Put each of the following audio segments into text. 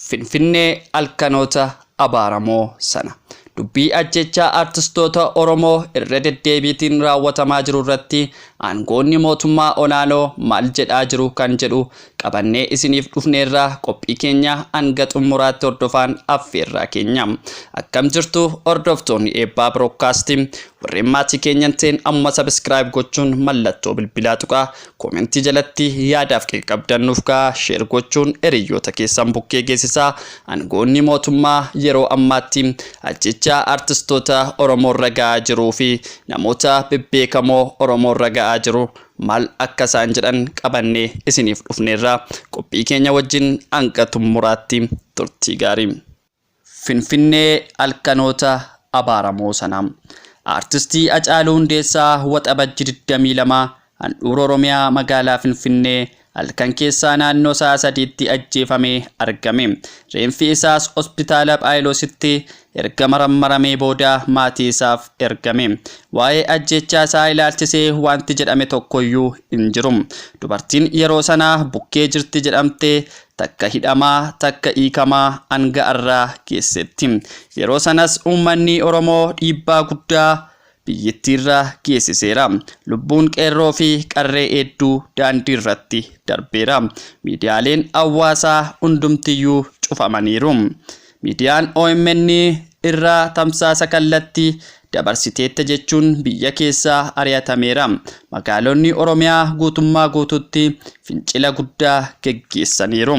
Finfinnee halkanoota abaaramoo sana. Dubbii ajjechaa artistoota Oromoo irra deddeebiitiin raawwatamaa jiru irratti aangoonni mootummaa olaanoo maal jedhaa jiru kan jedhu qabannee isiniif dhufneerra qophii keenya hanga xumuraatti hordofaan affeerraa keenya. Akkam jirtu hordoftoonni eebbaa birookaastii warreen maatii keenya hin ta'in ammuma sabiskiraayib gochuun mallattoo bilbilaa tuqaa Komentii jalatti yaadaaf qabdan nuuf kaa sheer gochuun eriyyoota keessan bukkee geessisaa angoonni mootummaa yeroo ammaatti ajjechaa artistoota Oromoorra ga'aa jiruu fi namoota bebbeekamoo Oromoorra ga'aa jiru maal akka isaan jedhan qabannee isiniif dhufneerra qophii keenya wajjin hanga xummuraatti turtii gaarii. Finfinnee, Halkanoota Abaaramoo Sana. Aartistii Hacaaluu Hundeessaa Waxabajji 22 handhuura Oromiyaa magaalaa Finfinnee halkan keessaa naannoo sa'a 3tti ajjeefamee argame. Reenfi isaas Hospitaala Phaayilositti erga marammaramee booda maatii isaaf ergame. Waa'ee ajjeechaa isaa ilaalchisee waanti jedhame tokkoyyuu hin jiru. Dubartiin yeroo sana bukkee jirti jedhamte takka hidhamaa takka hiikamaa hanga arraa geessetti. Yeroo sanas uummanni Oromoo dhiibbaa guddaa biyyittiirra geessiseera. Lubbuun qeerroo fi qarree heedduu daandiirratti darbeera. Miidiyaaleen hawwaasaa hundumtiyyuu cufamaniiru. Miidiyaan omn irraa tamsaasa kallatti dabarsiteetta jechuun biyya keessaa ari'atameera. Magaalonni Oromiyaa guutummaa guututti fincila guddaa geggeessaniiru.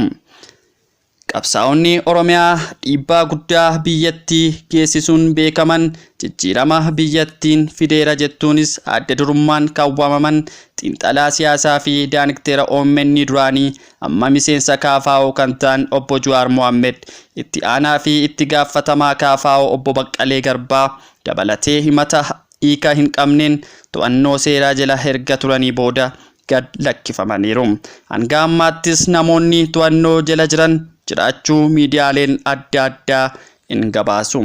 Qabsaa'onni Oromiyaa dhiibbaa guddaa biyyatti geessisuun beekaman jijjiirama biyyattiin fideera jettuunis adda durummaan kan waamaman xiinxalaa siyaasaa fi daaniktera omn duraanii Amma miseensa kfo kan ta'an Obbo Juwaar Mohammed, itti aanaa fi itti gaaffatamaa kfo Obbo Baqqalee Garbaa dabalatee himata hiika hin qabneen to'annoo seeraa jala erga turanii booda gad lakkifamaniiru. Hanga ammaattis namoonni to'annoo jala jiran jiraachuu miidiyaaleen adda addaa in gabaasu.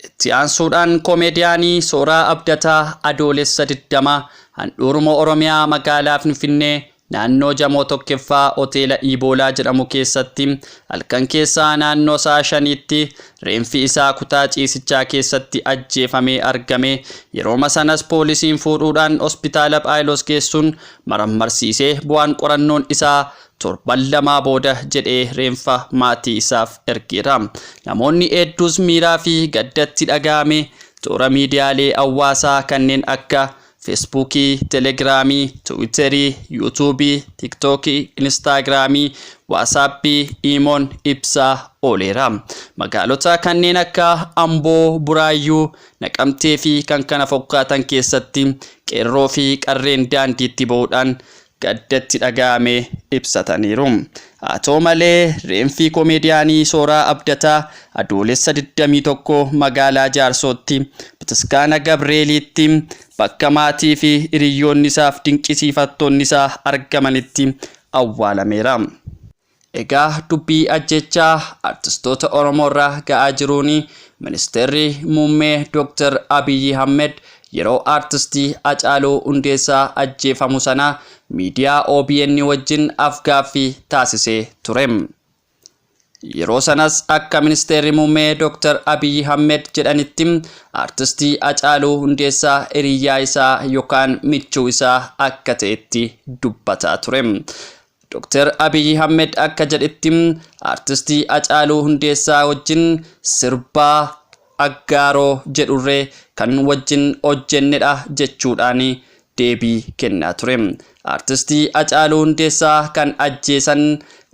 Itti aansuudhaan Koomeediyaanii Sooraa Abdataa Adoolessa 20 handhuuruma Oromiyaa magaalaa Finfinnee naannoo Jamoo 1ffaa Hoteela Iiboolaa jedhamu keessatti halkan keessaa naannoo sa'a 5tti reenfi isaa kutaa ciisichaa keessatti ajjeefamee argame yerooma sanas poolisiin fuudhuudhaan hospitaala Phaayiloos geessuun marammarsiisee bu'aan qorannoon isaa Torban lamaa booda jedhee reenfa maatii isaaf ergeera. Namoonni hedduus miiraa fi gadda itti dhaga'ame toora miidiyaalee hawwaasaa kanneen akka Feesbuukii, Telegiraamii, Tiwiiterii, Yuutuubii, Tiiktookii, Inistaagiraamii, Waasaappii, Iimoon ibsaa ooleera. Magaalota kanneen akka Amboo, Buraayyuu, Naqamtee fi kkf keessatti qeerroo fi qarreen daandiitti ba'uudhaan gadda itti dhaga'ame ibsataniiru. Haa ta'u malee, reenfi komeediyaanii Sooraa Abdataa Adoolessa 21 magaalaa Jaarsootti Bataskaana Gabreeliitti bakka maatii fi hiriyyoonnisaaf dinqisiifattoonnisaa argamanitti awwaalameera. Egaa dubbii ajjechaa artistoota Oromoorra ga'aa jiruun Ministeerri Muummee Dooktar Abiyyi Ahmed yeroo artistii Hacaaluu Hundeessaa ajjeefamu sana miidiyaa obn wajjin af-gaaffii taasisee ture. Yeroo sanas akka Ministeerri Muummee Dooktar Abiyyi Ahmed jedhanitti artistii Hacaaluu Hundeessaa hiriyyaa isaa yookaan michuu isaa akka ta'etti dubbataa ture. Doktar Abiy Ahmed akka jedhetti Artistii Hacaaluu Hundeessaa wajjin sirba Aggaaroo jedhurree kan wajjin hojjennedha jechuudhaan deebii kennaa ture. Artistii Hacaaluu Hundeessaa kan ajjeesan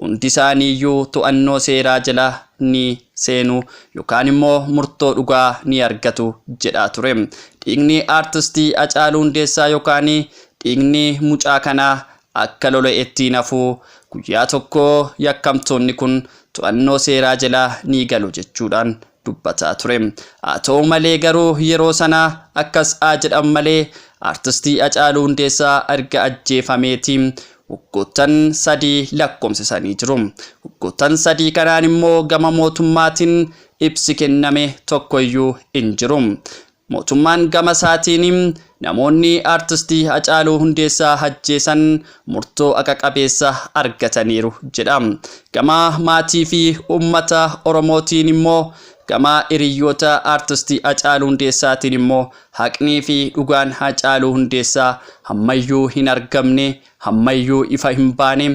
hundisaaniiyyuu to'annoo seeraa jala ni seenu yookaan immoo murtoo dhugaa ni argatu jedhaa ture. Dhiigni Artistii Hacaaluu Hundeessaa yookaan dhiigni mucaa kanaa Akka lola ittiin hafu guyyaa tokko yakkamtoonni kun to'annoo seeraa jela ni galu jechuudhaan dubbataa ture. Haa ta'u malee garuu yeroo sana akkas haa jedhan malee Artistii Hacaaluu Hundeessaa erga ajjeefameetii waggoottan sadii lakkoomsisanii jiru. Waggoottan sadii kanaan immoo gama mootummaatiin ibsi kenname tokkoyyuu hin jiru. Mootummaan gama isaatiin namoonni Artisti Hacaaluu Hundeessaa ajjeesan murtoo haqa qabeessa argataniiru jedha. Gama maatii fi uummata Oromootiin immoo gama hiriyyoota Artisti Hacaaluu Hundeessaatiin immoo haqnii fi dhugaan Hacaaluu Hundeessaa ammayyuu hin argamne Hammayyuu ifa hin baane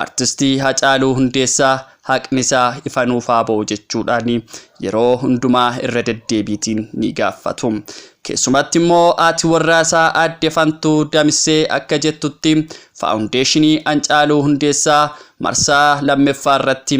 Artistii Hacaaluu Hundeessaa haqni isaa ifa nuuf haa ba'u jechuudhaan yeroo hundumaa irra deddeebiitiin ni gaaffatu. Keessumatti immoo haati warraa isaa Aadde Fantuu Damissee akka jettutti Faawundeeshinii Hancaaluu Hundeessaa marsaa lammeffaa irratti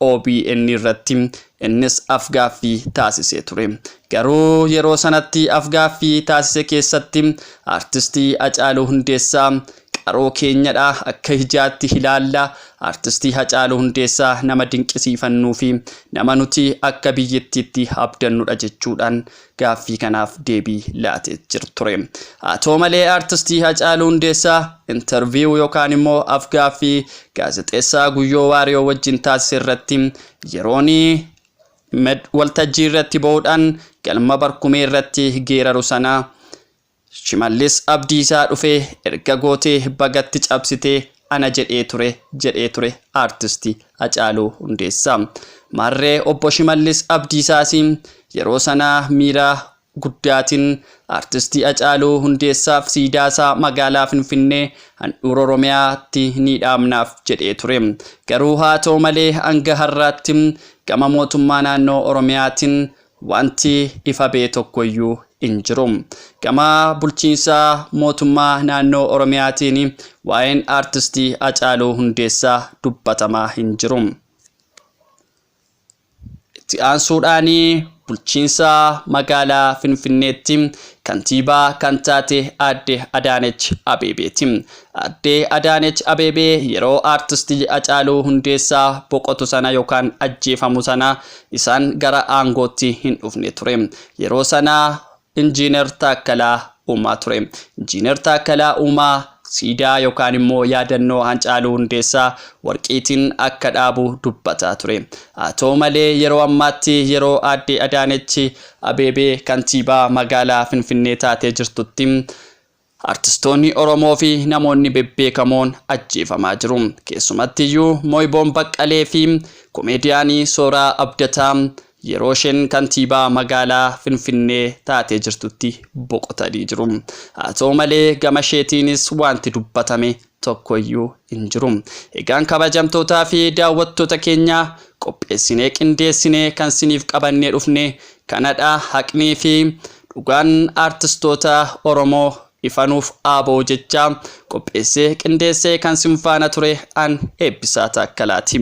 OBN irratti innis afgaaffii taasisee ture. Garuu yeroo sanatti afgaaffii taasise keessatti Artistii Hacaaluu Hundeessaa qaroo keenyadha, akka ijaatti ilaalla, Artistii Hacaaluu Hundeessaa nama dinqisiifannuufi nama nuti akka biyyittiitti abdannudha jechuudhaan gaaffii kanaaf deebii laatee jir ture. Haa ta'u malee Artistii Hacaaluu Hundeessaa interview yookaan immoo afgaaffii Gaazexeessaa Guyyoo Waariyoo wajjin taasise irratti yeroon waltajjii irratti bahuudhaan galma Barkumee irratti geeraru sana Shimallis Abdiisaa dhufee erga gootee bagatti cabsitee ana jedhee ture jedhee ture Aartisti Hacaaluu Hundeessaa. Maarree Obbo Shimallis Abdiisaas yeroo sana miira guddaatiin Aartisti Hacaaluu Hundeessaaf siidaasaa magaalaa Finfinnee handhuura Oromiyaatti ni dhaabnaaf jedhee ture. Garuu haa ta'u malee hanga har'aatti gama mootummaa naannoo Oromiyaatiin Wanti ifa ba'e tokko iyyuu hin jiru. Gama bulchiinsa mootummaa naannoo Oromiyaatiin waa'een Artisti Hacaaluu Hundeessaa dubbatamaa hin jiru. Itti aansuudhaan bulchiinsa magaalaa Finfinneetti kantiibaa kan taate aadde Adaanech Abeebeeti. Aadde Adaanech Abeebee yeroo Artisti Hacaaluu Hundeessaa boqotu sana yookaan ajjeefamu sana Isaan gara aangootti hin dhufne ture. Yeroo sana Injiinar Taakkalaa Uumaa ture. Injiinar Taakkalaa Uumaa siidaa yookaan immoo yaadannoo Hancaaluu Hundeessaa Warqiitiin akka dhaabu dubbataa ture. Haa ta'u malee yeroo ammaatti yeroo Aadde Adaanech Abeebee Kantiibaa Magaalaa Finfinnee taatee jirtutti Artistoonni Oromoo fi namoonni bebbeekamoon ajjeefamaa jiru. Keessumattiyyuu Moiboon Baqqalee fi komeediyaanii Sooraa Abdataa yeroo isheen kantiibaa magaalaa Finfinnee taatee jirtutti boqotanii jiru. Haa ta'u malee gama isheetiinis waanti dubbatame tokko iyyuu hin jiru. Egaan kabajamtootaa fi daawwattoota keenya qopheessinee qindeessinee kan siniif qabannee dhufne kanadha haqnii fi dhugaan aartistoota Oromoo ifa nuuf haa ba'u jechaa qopheessee qindeessee kan sin faana ture an Eebbisaa Taakkalaati.